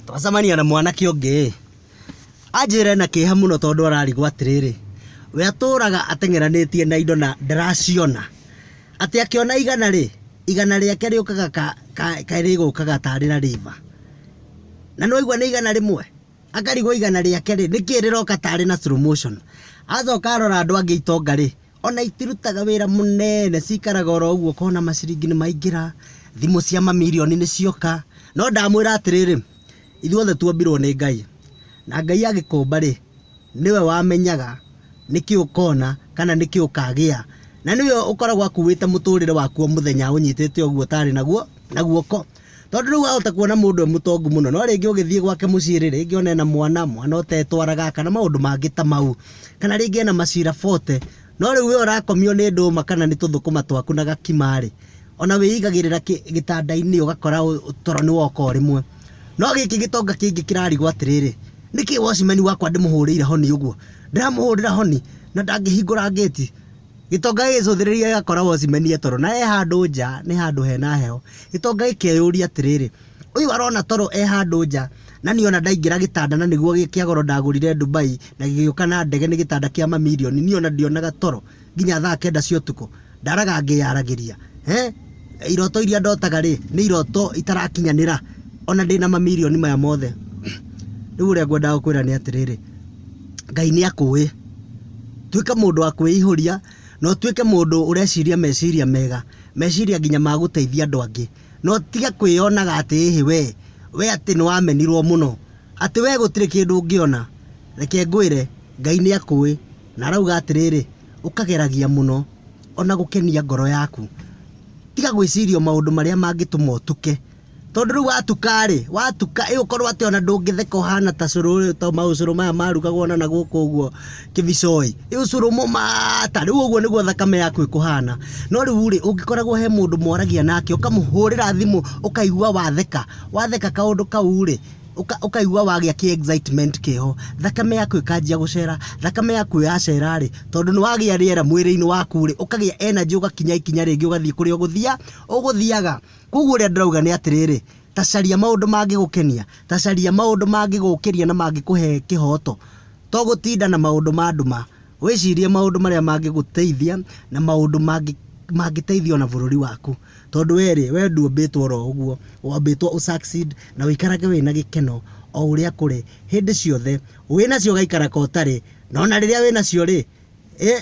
Twacemania na mwanake ũngĩ-ĩ, anjĩra ena kĩeha mũno tondũ ararigwo atĩrĩrĩ, we atũraga ateng'eranĩtie na indo na ndaraciona, atĩ akĩona igana-rĩ, igana rĩake rĩũkaga ka rĩgũkaga tarĩ na rĩimba. Na nĩ waigua nĩ igana rĩmwe? Akarigwo igana rĩake-rĩ, nĩkĩĩ rĩroka tarĩ na slow motion. Acoka arora andũ angĩ itonga-rĩ, ona itirutaga wĩra mũnene cikaraga oro ũguo ũkona maciringi nĩ maingĩra thimũ cia mamirioni nĩ cioka no ndamwĩra atĩrĩrĩ ithuothe tuombirwo nĩ ngai na ngai agĩkũmba rĩ nĩwe wamenyaga nĩkĩ ũkona kana nĩkĩ ũkagĩa na nĩwe ũkoragwo akuĩte mũtũrĩre waku o mũthenya ũnyitĩte ũguo ũtarĩ naguo na guoko Tondũ rĩu wahota kuona mũndũ e mũtongu mũno, no rĩngĩ ũgĩthiĩ gwake mũciĩ rĩ, rĩngĩ one ena mwana, mwana ũtetwaraga, kana maũndũ mangĩ ta mau. Kana rĩngĩ ena macira 40, no rĩu we ũrakomio nĩ ndũma kana nĩ tũthũkũma twaku na gakima rĩ, ona wĩigagĩrĩra gĩtanda-inĩ ũgakora toro nĩ woka o rĩmwe. No gĩkĩ gĩtonga kĩngĩ kĩrarigwo atĩrĩrĩ, nĩkĩ watchman wakwa ndĩmũhũrĩire honi ũguo? Ndĩramũhũrĩra honi na ndangĩhingũra ngĩti. Gĩtonga gĩgĩcũthĩrĩria gĩgakora Watchman nĩ e toro na e handũ nja nĩ handũ hena heho. Gĩtonga gĩkeyũria atĩrĩrĩ, ũyũ arona toro e handũ nja na niĩ ona ndaingĩra gĩtanda na nĩguo gĩ kĩa goro ndagũrire Dubai na gĩgĩũka na ndege nĩ gĩtanda kĩa mamirioni niĩ ona ndionaga toro nginya thaa kenda cia ũtukũ. Ndaraga ngĩyaragĩria. Eeh iroto iria ndotaga rĩ, nĩ iroto itarakinyanĩra ona ndĩna mamirioni maya mothe. Rĩu ũrĩa ngwendaga gũkwĩra nĩ atĩrĩrĩ, Ngai nĩ akũĩ. Tuĩka mũndũ wa kwĩihũria na ũtuĩke mũndũ ũreciria meciria mega, meciria nginya ma gũteithia andũ angĩ. Na ũtige kwĩyonaga atĩ ĩhĩ we, we atĩ nĩ wamenirwo mũno, atĩ we gũtirĩ kĩndũ ũngĩona. Reke ngwĩre, Ngai nĩ akũĩ na arauga atĩrĩrĩ, ũkageragia mũno o na gũkenia ngoro yaku. Tiga gwĩciria o maũndũ marĩa mangĩtũma ũtuke. Tondũ rĩu watuka-rĩ, watuka ĩ ũkorwo atĩ ona ndũngĩtheka ũhana ta cũrũ ũyũ ta maũcũrũ maya marugagwo na nagũkũ ũguo kĩbicoĩ, ĩ ũcũrũ mũmata, rĩu ũguo nĩguo thakame yaku ĩkũhana. No rĩu-rĩ, ũngĩkoragwo he mũndũ mwaragia nake, ũkamũhũrĩra thimũ ũkaigua watheka, watheka kaũndũ kau-rĩ, ũkaigua wagĩa kĩ excitement kĩho, thakame yaku ĩkanjia gũcera, thakame yaku yacera-rĩ, tondũ nĩwagĩa rĩera mwĩrĩ-inĩ waku-rĩ, ũkagĩa energy ũgakinya ikinya rĩngĩ ũgathiĩ kũrĩa ũgũthiaga. Kwoguo ũrĩa ndĩrauga nĩ atĩrĩrĩ, ta caria maũndũ mangĩgũkenia, ta caria maũndũ mangĩgũkĩria na mangĩkũhe kĩhooto, to gũtinda na maũndũ ma nduma. Wĩcirie maũndũ marĩa mangĩgũteithia na maũndũ mangĩteithia o na bũrũri waku. Tondũ we rĩ, we ndũmbĩtwo o ro ũguo, wambĩtwo ũ succeed na ũikarage wĩ na gĩkeno o ũrĩa kũrĩ hĩndĩ ciothe. Wĩ nacio ũgaikara ka ũtarĩ, no na rĩrĩa wĩ nacio rĩ, ĩ!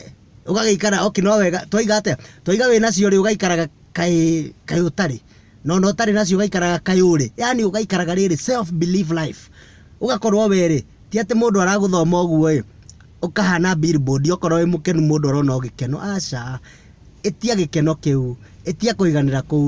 ũgagĩikara okay no wega twaiga atĩa twaiga wĩ nacio rĩ ũgaikaraga kaĩ kaĩ ũtarĩ no no ũtarĩ nacio ũgaikaraga kaĩ ũrĩ yani ũgaikaraga rĩrĩ self belief life ũgakorwo we rĩ ti atĩ mũndũ aragũthoma ũguo ĩ ũkahana billboard okorwo wĩ mũkenu mũndũ arona o gĩkeno aca ĩtia gĩkeno kĩu ĩtia kũiganĩra kũu.